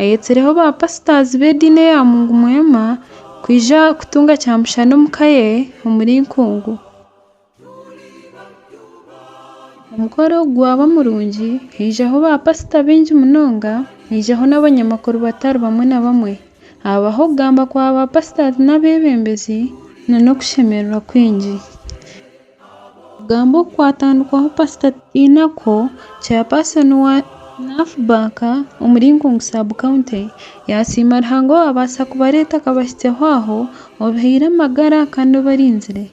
Ayetsireho baapasitaazi b'ediini eya Mungu Mwema kwija kutunga kyamushana omu ka ye omuri Nkungu. Omukoro ogu gwaba murungi, haijaho baapasita baingi munonga, haijaho n'abanyamakuru batari bamwe na bamwe. Haabaho okugamba kwa baapasitaazi n'abeebembezi, n'okushemererwa kwingi. Kugamba oku kwatandikwaho pasita Twiinako, chairperson wa NAFBAK omu Linkonge sub county, yasiima Ruhanga owaabaasa kubareeta akabahitsyaho aho, obihaire amagara kandi obarinzire.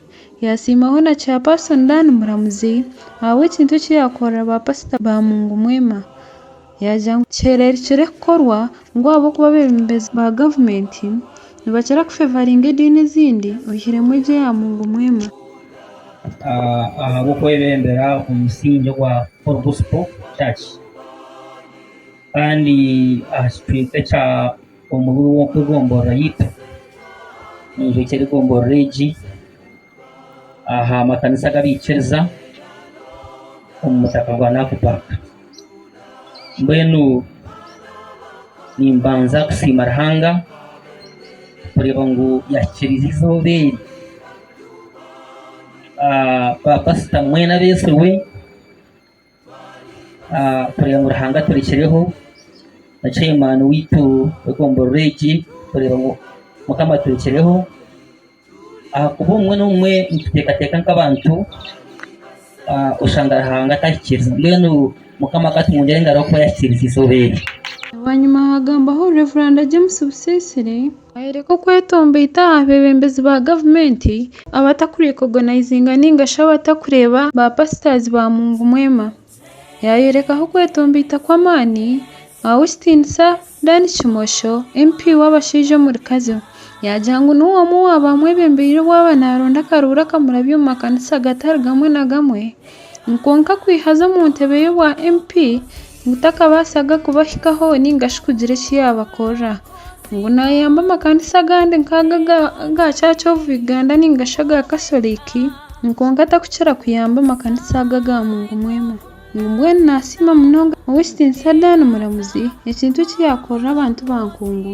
Yasiimaho na chairperson Dan Muramuzi ahabw'ekintu eki yaakorera ba pasita ba Mungu Mwema. Yaagira ngu kihera rikire kukorwa ngu ahabw'okuba abeebembezi ba gavumenti nibakira kufevaringa ediini ezindi oihiremu egyo ya Mungu Mwema. Ahabw'okwebembera omu musingi ogwa Full Gospel Church kandi aha kicweka ekya Omubi w'Egombolola Yaitu, ninjwekye era egombolola egi. aha makanisa ag'abaikiriza omu mutaka gwa Naku park. Mbwenu nimbanza kusiima Ruhanga kureeba ngu yahikiriize obubeeri ba pasita mbwenu abeesigwe. kureba ngu Ruhanga aturekireho na chairman waitu w'egomborora egi kureba ngu Mukama aturekireho ahakuba obumwe n'obumwe nituteekateeka nk'abantu oshanga Ruhanga tahikiiriza mbwenu Mukama akatungyera engaro ahakuba yahikiiriziize obu eri. Bwanyima haagambaho Rev. James Busiisire, Twayoreka okwetombeita aha beebembezi ba gavumenti abatakurikogonizinga nainga shi abatakureeba ba pasitazi ba mungu mwema. Yaayorekaho okwetombeita kw'amaani aha w'ekitiinisa Dan Kimosho, MP w'abashaija omuri Kazo. Yaagira ngu niwe omwe owa baamwebembeire obwaba naaronda akaruuru akamurabya omu makanisa agatari gamwe na gamwe. Kwonka kwihaza omu ntebe ye obwa MP Gutakabaasaga kubahikaho nainga shi kugira eki yaabakorera. Ngu naayamba amakanisa agandi nk'ago aga Church of Uganda nainga shi aga Catholic, kwonka atarikukira kuyamba amakanisa ago aga mungumu emwe. Ngu mbwenu naasiima munonga Ow'ekitiinisa Dan Muramuzi ekintu eki yaakorera abantu ba nkungu.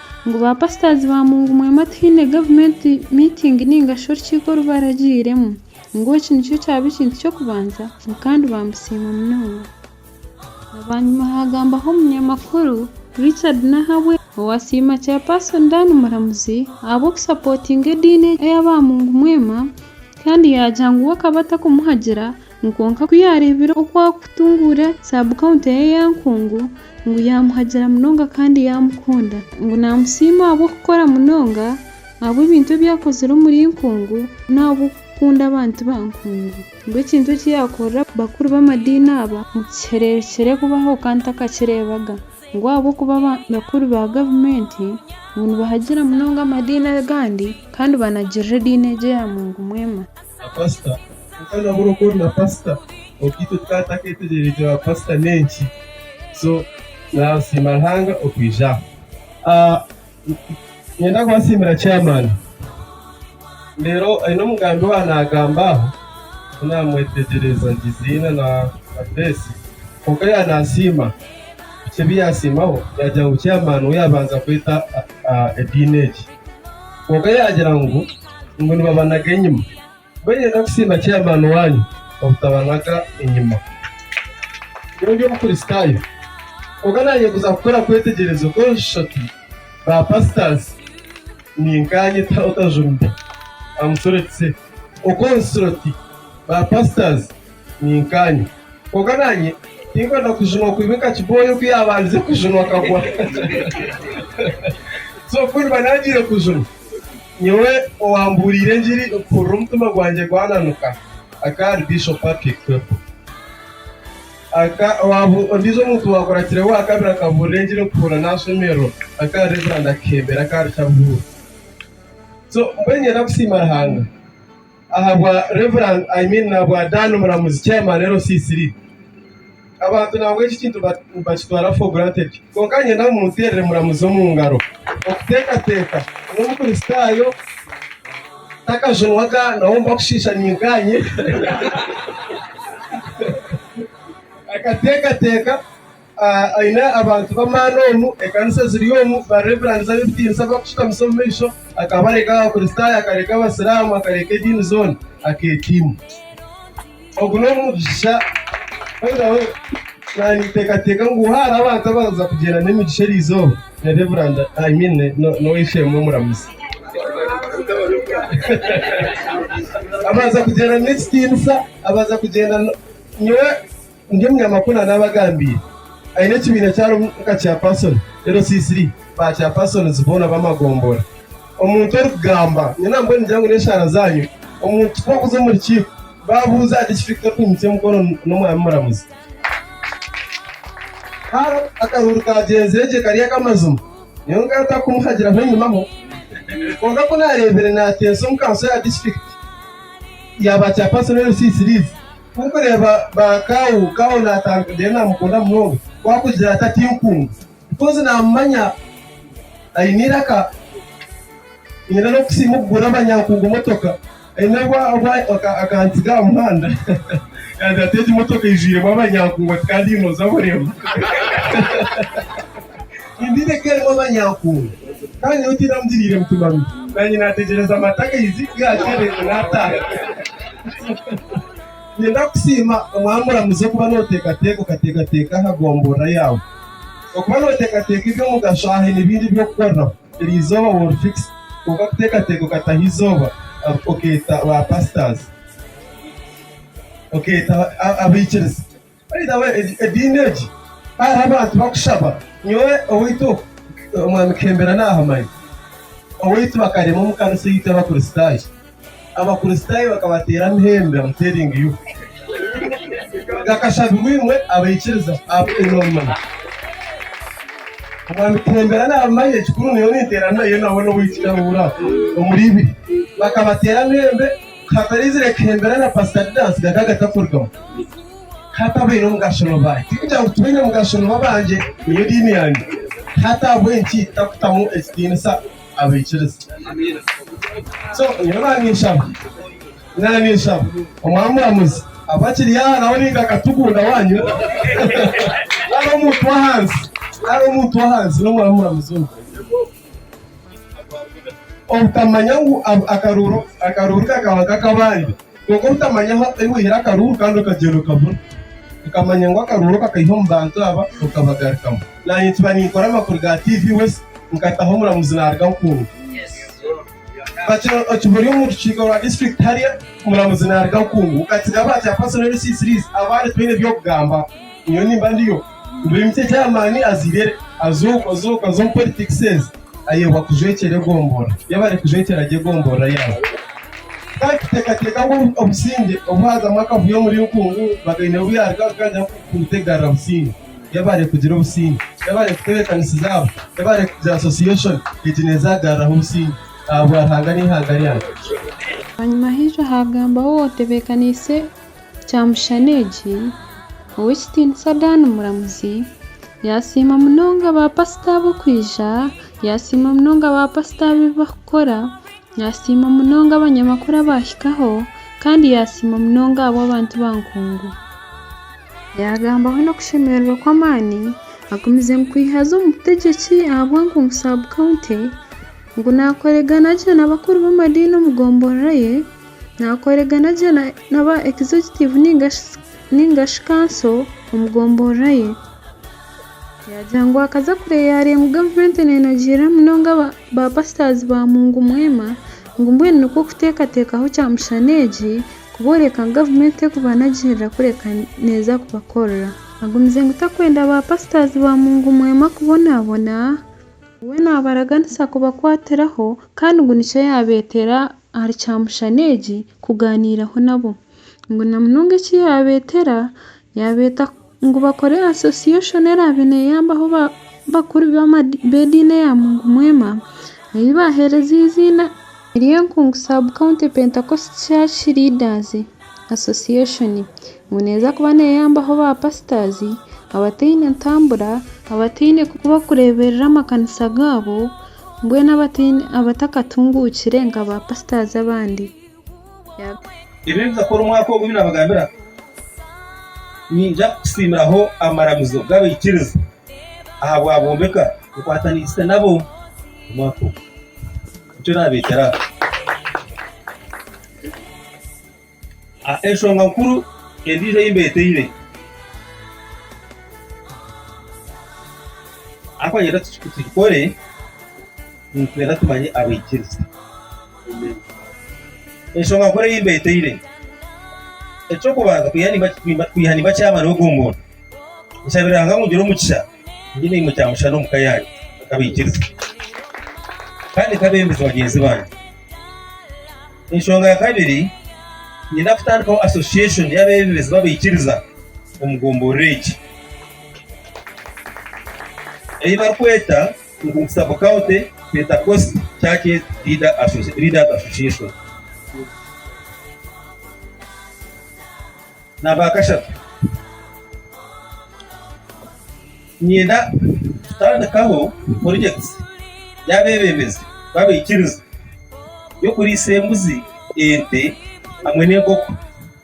Ngu ba pastors ba mungu mwema tihaine government meeting ningashi orukiiko orubaragiiremu ngu eki nikyo kyaba ekintu ky'okubanza ngu kandi baamusiima munonga. Bwanyima haagambaho omunyamakuru Richard Nahabwe owaasiima Chairperson Dan Muramuzi ahabw'okusapotinga ediini eya ba mungu mwema kandi yaagira ngu we akaba atakumuhagira Kwonka ku yaareebire oku arikutunguura saabukawunta eye eya nkungu, ngu yaamuhagira munonga kandi yaamukunda. Ngu naamusiima ahabw'okukora munonga, ahabw'ebintu ebi akozire omuri nkungu, n'ahabw'okukunda abantu ba nkungu. Ngu ekintu eki yaakorera bakuru b'amadiini aba omu kihereero kikire kubaho kandi ntakakireebaga. Ngu ahabw'okuba abakuru ba gavumenti ngu nibahagira munonga amadiini agandi kandi banagirira ediini egyo ya mungu mwema. Na pasita kwonka nabura oku ori na pasita obwe itwe tukaba tutaketegyereze ba pasita nenki so nasiima Ruhanga okwija aha. Ninyenda kubasiimira chairman reero aine omugambi owa nagamba aha ku namwetegyereza Giziina na Grace kwonka ya nasiima bikye ebi yasiimaho yagira ngu chairman we yabanza kweta ediini egi kwonka yagira ngu ngu nibabanaga enyima. Mbwenu reka kusiima chairman waanyu obutabanaga enyima. Nyowe ndi Omukristaayo, kwonka naanyeguza kukora kwetegyereza oku enshatu ba pastors ninkaanye otajumbi, I'm sorry to say, oku enshatu ba pastors Ninkaanya. Kwonka naanye tinkwenda kujunwa kwimika kibooyo ku yaabandize kujunwa akagwa. So ku ndiba naagiire kujunwa, nyowe owaambuuriire engiri mpurira omutima gwangye gwananuka akaari Bishop Patrick Kwepo. Ondiijo omuntu waakurakireho owaakabiri akabuurira engiri mpurira naashemererwa akaari Reverand Akihembera akaari Kyaruhura. So mbwenu niinyenda kusiima Ruhanga. ahabwa Rev. I mean nahabwa Dan Muramuzi Chairman LC3. Abantu nangwa eki kintu nibakitwara for granted. Kwonka niinyenda ngu munteerere Muramuzi omu ngaro. Okuteekateeka n'omukristaayo takajunwaga nawe omu bakushiisha ninkaanye. Akateekateeka. Aine abantu b'amaani omu ekanisa eziri omu bareverends ab'ebitiinisa abarikushutamusa omu maisho. Akaba areka Abakristaayo, akareka Abasiraamu, akareka ediini zoona, akeeteima. Ogu n'omugisha. By the way, naanyeteekateeka ngu haaba hariho abantu abaraza kugyenda n'emigisha eri izooba, ni Reverand, I mean n'ow'eishe-emwe omuramuzi. Abaraza kugyenda n'ekitiinisa, abaraza kugyenda. Nyowe. Ndi omunyamakuru na naabagambiire. Aine ekibiina eki arimu nka chairperson, LC3, ba chairpersons boona b'amagombora. Omuntu orikugamba, nyowe nambwo ningira ngu n'eshaara zaanyu, omuntu ku okuza omu rukiiko, baabuuza ahari kiki Victor Kwimutsya omukono n'omwami muramuzi. Haaba akahuuru kaagyenzire gye kari ak'amazima, nyowe nkaba ntarikumuhagiraho enyima ho. Kwonka ku naareebire naateesa omu kanso ya disiturikiti ya ba chairpersons, LC3s, Ku mureeba ba Kau, Kau naatandika deru naamukunda munonga. Ku akugira ati atinkunde bikozi naamumanya aine eiraka. Nyine n'okusiima okugura abanyankungu motoka. Aine obu akantsiga aha muhanda yaagira ati egi motoka eijwiremu abanyankungu ati kandi haine oza abureeba. Embibo eka erimu abanyankungu kandi nyowe tinamugiriire mutima mibi. Naanye naategyereza amata agaizi gaatsya reero naataaha. Niinyenda kukusiima Omwami Muramuzi okuba nooteekateeka okateekateeka aha gomborora yaawe. Okuba nooteekateeka eby'omugasho aha haine bingi eby'okukoreraho. Eri izooba wall fix kwonka kuteekateeka okataho izooba okeeta ba pastors, okeeta abaikiriza. Ediini egi ku hariho abantu barikushaba, nyowe owaitu Omwami Kihembera naahamanya. Owaitu bakarema omu kanisa eitu Abakristaayo. Abakristaayo bakabateera amahembe amu teringi yu. Gakashabirwa imwe abaikiriza ahabw'okugira obumanyi. Omwami Kihembera naabimanya, ekikuru nyowe ninteeranayo nawe n'owaitu Kyahura omuri ibiri. Bakabateera amahembe. Kataraizire kuhembera na Pastor Didas gaka agatakurugamu hati abaine omugasho nibo baahe? Tikugira ngu tibaine mugasho nibo abangye niyo diini yangye hati ahabw'enki takutamu ekitiinisa abaikiriza? So nyowe naaniinshaba naaniinshaba Omwaami Muramuzi abe akiri aha nawe nainga akatugunda waanyu nari omuntu w'ahansi nari omuntu w'ahansi n'Omwaami Muramuzi ogwo. Obutamanya ngu akaruuru kakaba nk'akabandi. Kwonka obutamanya ahu waihire akaruuru kandi okagyenda okabura. Okamanya ngu akaruuru ako akaiha omu bantu aba okabagarukamu. Naanye nkiba ninkora amakuru ga TV West nkataho omuramuzi naaruga Nkungu. Kakira okihuri omu rukiiko rwa disiturikiti hary'a omuramuzi naaruga Nkungu katsiga aba chaapasoni LC3's abaari twine eby'okugamba. Nyowe nimba ndiyo. Mbiimukye chaamaani azaire azuuka zuuka z'omu politikiseezi ayebwa kujwekyera egombolola yaaba ari kujwekyera gye egombolola yaabo. Kaakiteekateeka ngu obusingye obu haazamu akavuyo omuri Nkungu, Bagaine obu yaaruga kuganjaho kubutegarra busingye. Yebare kugira obusinge. Yebare kutebekanisiza abo. Yebare kugira association egi neza agarraho obusinge ahabwa Ruhanga n'eihanga ryange. Bwanyima haija haagambaho ow'otebekanise kyamushana egi, Ow'ekitiinisa Dan Muramuzi. Yasiima munonga ba pasita abo kwija. Yasiima munonga ba pasita abo ebi bakukora. Yasiima munonga abanyamakuru abaahikaho. Kandi yasiima munonga abo abantu ba nkungu. Yagambaho n'okushemererwa okw'amaani agumize kwiha haza omutegyeki ahabwa Nkungu sub county ngu nakoregana gye n'abakuru b'amadiini omu gombolola ye, nakoregana gye naba executive ningashi kanso omu gombolola ye. Yagira ngu akaza kureyareya ngu gavumenti nenogiirira munonga ba pastors ba mungu mwema ngu mbwenu nikwo kutekatekaho kyamushana egi. Kubooreka ngu gavumenti erikuba nagyeherera kureka neeza kubakorera. Agumize ngu takwenda ba pasitazi ba mungu mwema kubonabona, ngu we nabaraganisa kubakwatiraho kandi ngu nikyo yabeteera ahari kyamushana egi kuganiiraho nabo, ngu namunonga eki yabeteera yabeeta Ngu bakore association eraabe neeyambaho abakuru b'ediini eya Mungu Mwema ei baaheereza eiziina ery'Enkungu Sub-County Pentecost Church Leaders Association, ngu neeza kuba neeyambaho baapasitaazi abataine ntambura, abataine ku barikureeberera amakanisa gaabo, mbwenu abatakatunguukire nka baapasitaazi abandi. Ebi ebizakora omwaka ogu ebinabagambira ninyija kusiimiraho amaramizo gabaikiriza ahabwabombeka nkwatanisize nabo omwaka ogu. Nikyo nabeetera aha. Ah, Enshonga nkuru endiijo ei mbeteire ahabwokuba ninyenda tugikore, ninyenda tumanye abaikiriza. Enshonga nkuru ei mbeeteire, eky'okubanza kwiha nimba nkyamara ogu omuntu, nshabire Ruhanga ngu ngire omugisha ngire emirimo kya mushana omu ka yangye nkabaikiriza kandi nkabembeza bagyenzi bangye. Enshonga ya kabiri, niinyenda kutandikaho association y'abeebembezi b'abaikiriza omu gomborora egi ei barikweta Omu kitabo Culti, Pentekosti, Church Age, Leaders Association. Ni aba kashatu. Niinyenda kutandikaho purojekiti y'abeebembezi b'abaikiriza y'okuriisa embuzi, ente hamwe n'enkoko.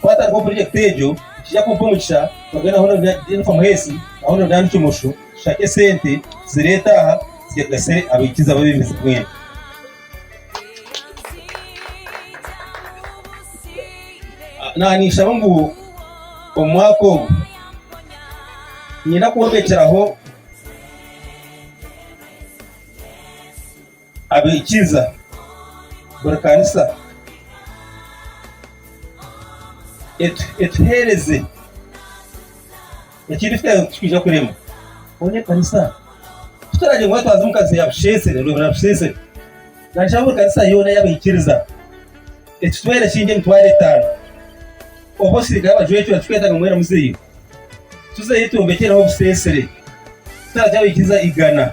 Ku hatariho purojekiti egyo, nikija kumpa omugisha kugenda ahu nari ndi Jennifer Muheesi, ahu nari ndi Kimosho, tushake esente tuzire etaaha zigasire abaikizi abebembezi mbwenu. Naanishaba ngu omu mwaka ogu niinyenda kwombekyeraho. Abaikiza, buri kanisa etuheereze ekirikuteeraho ekitwija kurema. Mbwenu ekanisa tituragira ngu twaza omu kanisa ya busheesere ngu na busheesere. Nashaba buri kanisa yoona y'abaikiriza etutwere esiingi emitwaro etaano obu abasirikare bajwecwa tituketaaga ngu mwena muzeyo. Tuzeyo twombekyereho obuseesere, tutagira abaikiza igana.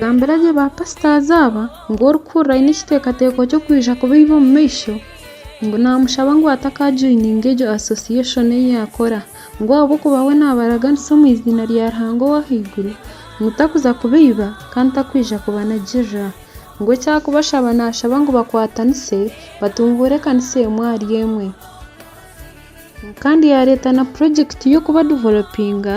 Gambira gye ba pasitazi aba ngu orikuhurira aine ekiteekateeko ky'okwija kubaiba omu maisho, ngu naamushaba ngu atakajoininga egyo asosiyeshoni ei yaakora, ngu ahabw'okuba we naabaraganisa omu iziina rya Ruhanga ow'aha iguru, ngu takuza kubaiba kandi takwija kubanagirira. Ngu eki arikubashaba naashaba ngu bakwatanise batunguure ekanisa emwe ahari emwe. Kandi yaareeta na purojekiti y'okubadevelopinga.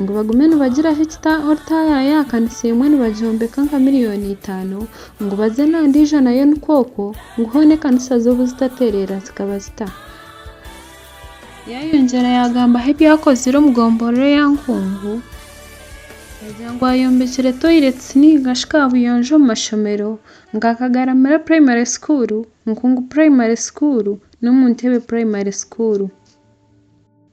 Ngu bagume nibagira ahu ekita orutaaya ya kanisa emwe nibagyombeka nka milioni itaano, ngu baze na ndiijo nayo nikwo okwo, ngu hoona ekanisa zo buzitatereera zikaba zita. Yayongyera yagamba ahu ebyakozire omu gomborora eya Nkungu, yagira ngu ayombekire toilets ninga shi kabuyonjo omu mashomero, ngu akagaramira primary school, Nkungu primary school, n'omu Ntebe primary school.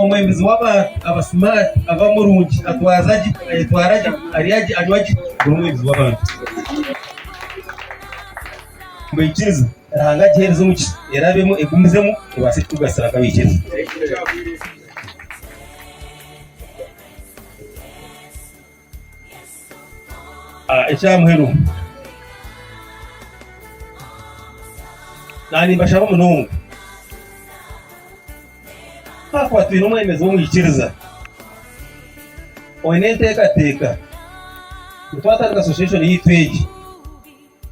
Omwebembezi w'abantu abasimaati aba murungi, atwaza gye, ayetwara gye, arya gye, anywa gye. Niwe mwebembezi w'abantu. Abaikiriza, Ruhanga agiheereze omugisha, erabemu, egumizemu, ebaase kutugasira nk'abaikiriza. Ah, ekya muheru. Nanimbashaba munonga. Hakuba twine omwemezi w'omwikiriza. Oine enteekateeka. Nitwatandika association yaitu egi.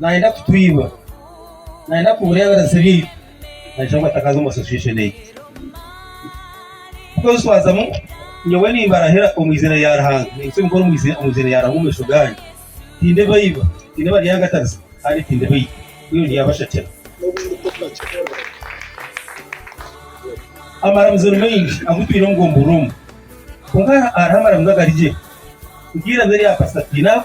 Naayenda kutwiba. Naayenda kubura ebibazo byaitu. Naija ngu atakaza omu association eitu. Kutwezwazamu, nyowe nimbarahira omu izina rya Ruhanga, nimbisaba nkore omu izina rya Ruhanga omu maisho gaanyu. Tindibaiba, tindibaryangatariza kandi tindibaita. Mbwenu ryabashakira. Amaramizo ni maingi agu twine omu bwoomi buroomu. Kwonka hariho amaramizo agari gye. Nk'eiramizo erya Pasita Twinaaho.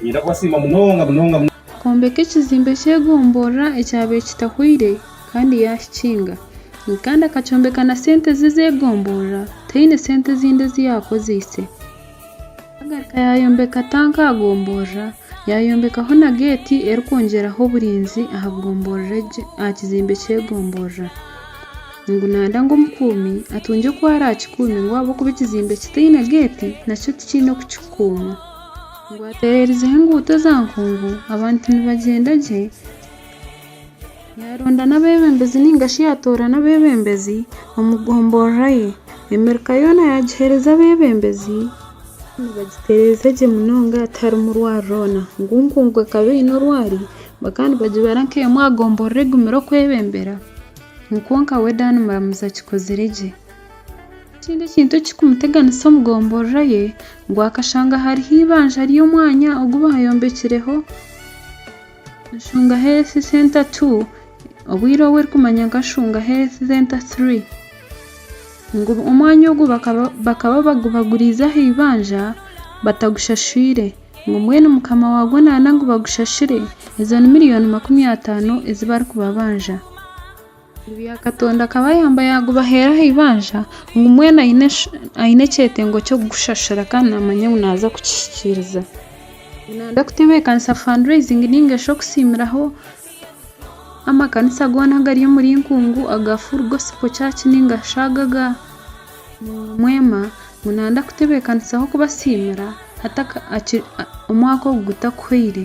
Niinyenda kubasiima munonga munonga. Kwombeka ekizimbe ky'egomborora ekyabaire kitahweire kandi yaakikinga. Kandi akakyombeka na sente ze ez'egomborora, taine sente ezindi ezi yaakozeise. Yaagaruka yaayombeka tanka aha gomborora, yaayombekaho na geeti erikwongyeraho oburinzi aha gomborora egyo, aha kizimbe ky'egomborora. Ngu naayenda ngu omukuumi atungye oku araakikuume ngu ahabw'okuba ekizimbe kitaine geeti, nakyo tikiine oku kikukuumwa. Ngu ateerereizeho enguuto eza nkungu, abantu nibagyenda gye. Yaaronda n'abeebembezi nainga shi yaatoora n'abeebembezi omu gomborora ye. Emirika yoona yaagiheereza abeebembezi, nibagitereeza gye munonga tiharimu rwaari rwoona. Ngu nkungu ekaba eine orwaari, bakaba nibagibara nk'emwe aha gomborora egumire okwebembera. Nikwo nka we Dan Muramuzi akikozire gye. Ekindi ekintu ekirikumuteganisa omu gomborora ye ngu akashanga hariho eibanja ry'omwanya ogu baayombekireho Shunga Health Centre Two, obwire obu erikumanywa nka Shunga Health Centre Three. Ngu omwanya ogu bakaba bagubaguriize aha eibanja batagushashiire. Ngu mbwenu mukama waagwo naana ngu bagushashire, ezo ni million makumi ataano ezi barikubabanja. Bya Katonda akabayamba yagubaheera aha ibanja ngu mbwenu aine ekyetengo ky'okugushashura kandi namanya ngu naza kukihikiriza. Nanda kutebekanisa fundraising ninga shi okusiimiraho amakanisa gona agari omuri Nkungu aga Full Gospel Church ninga shi aga aga Mwema ngu nanda kutebekanisaho kubasiimira omwaka ogu gutakuhwaire.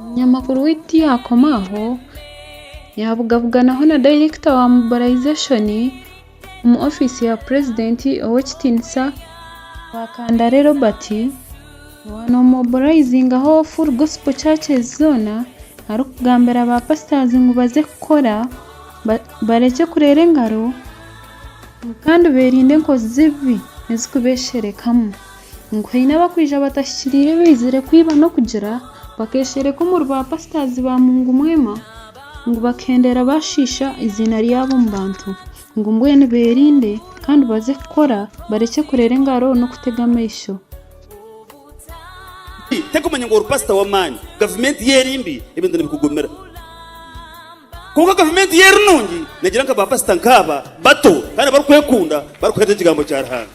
Munyamakuru waitu tiyakoma aho, yabugabuganaho na dayirekita wa mobilizashoni omu ofiisi ya purezidenti ow'ekitiinisa Rwakandare Robert, owa nomobilayizingaho Full Gospel Churches zoona arikugambira baapasitazi ngu baze kukora barekye kureera engaro kandi beerinde enkozi z'ebibi ezirikubesherekamu. Ngu haine abakwija batahikiriire baizire kwiba n'okugira, bakeshereka omuri ba pasitazi ba mungu mwema, ngu bakuhendera bashiisha eiziina ryabo omu bantu. Ngu mbwenu beerinde kandi baze kukora, barekye kureera engaro n'okutega amaisho. Tarikumanya ngu ori pasita w'amaani. Gavumenti ye eri mbi, ebintu nibikugumira. Kwonka gavumenti ye eri nungi, negira nka ba pasita nk'aba bato kandi abarikwekunda, barikuheereza ekigambo kya Ruhanga.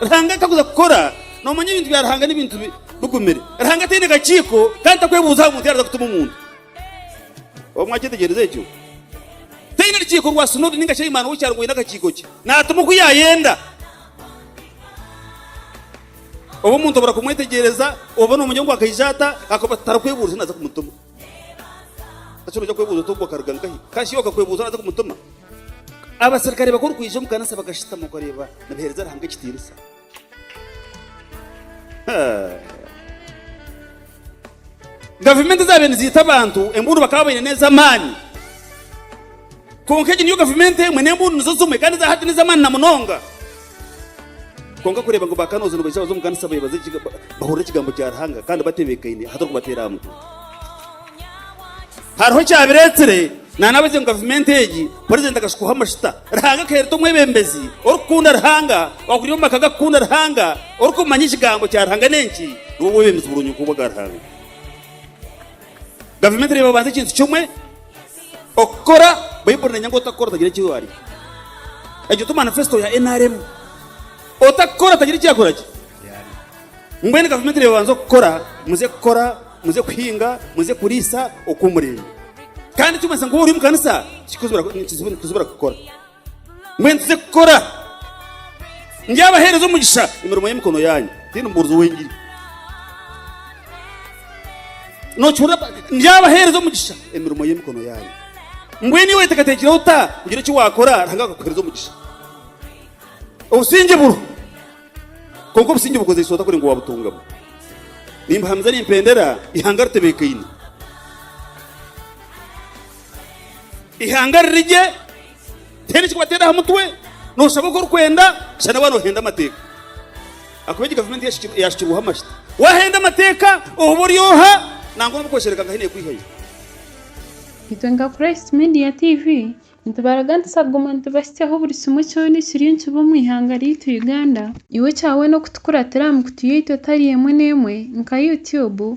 ruhanga atakuza kukora nomanya ebintu bya ruhanga n'ebintu bigumire ruhanga ataine kakiiko kandi takwebuuza aha muntu yaraza kutuma omuntu obu mwakyetegyereza ekyo taine rukiiko rwa sinodi ninga shaimani w'ekyaro gwine akakiiko kye natuma oku yayenda oba omuntu obura kumwetegyereza oba nomanya ngu akaija ata akuba tarakwebuuriza naza kumutuma Eki noija kwebuuza oti, Ogwo akaruga nkahi? Ka shi okakwebuuza oraza kumutuma? Abaserukare baku orikwija omu kanisa bakashutama okareeba nibaheereza Ruhanga ekitiinisa. Gavumenti ezaabaire niziita abantu, embuunu bakaba baine n'ez'amaani. Kwonka egi niyo gavumenti emwe, n'embuunu nizo zimwe, kandi eza hati n'ez'amaani na munonga. Kwonka kureeba ngu bakanooza nibaija baza omu kanisa beebaze gye bahurira ekigambo kya Ruhanga kandi batebeekaine ahatari kubateera aha mutwe. Hariho ekyabireetsire, naanabagye ngu gavumenti egi purezidenti akashukwaho amashuta Ruhanga akayeereta omwebembezi orikukunda Ruhanga, owakuriire omu maka gakukunda Ruhanga, orikumanya ekigambo kya Ruhanga n'enki, nibwo bwebembezi burungi nk'obwa Ruhanga. Gavumenti neeba obanza ekintu kimwe okukora, Baiburi nenyanga otakukora otagira eki waarya. Egyo ti manifesto ya nrm. Otakukora atagira eki yakora ki? Mbwenu gavumenti neeba obanza okukora, muze kukora, muze kuhinga, muze kuriisa oku murenda. Kandi ekirikumanyisa ngu waaba ori omu kanisa, nikizibura kukora. Mbwenu tuze kukora. Ndyabaheereza omugisha emirimo y'emikono yaanyu. Tihaine mubuurizi ow'engiri. Nookihurira? Ndyabaheereza omugisha emirimo y'emikono yaanyu. Mbwenu iwe weetekateekire ota kugira eki waakora Ruhanga akakuheereza omugisha? Obusingye buriho, kwonka obusingye obukozeise ota kugira ngu waabutungamu? Nimbahamiza nimpendera, eihanga ritebeekaine. Ihanga riri gye, tihaine eki wateera aha mutwe, nooshaba oku orikwenda, shana waaba noohenda amateeka. Ahakuba egi gavumenti yaashukirweho amashita. Waahenda amateeka oba ori oha, nangwa nooba okweshereka nka hene ekwihayo. Itwe nka Christ Media TV, nitubaraga nituza kuguma nitubahitsyaho buri kimwe kyona ekiriyo nikiba omu ihanga ryaitu Uganda. Iwe kya weena okutukuratira aha mikutu yaitu etari emwe n'emwe nka YouTube,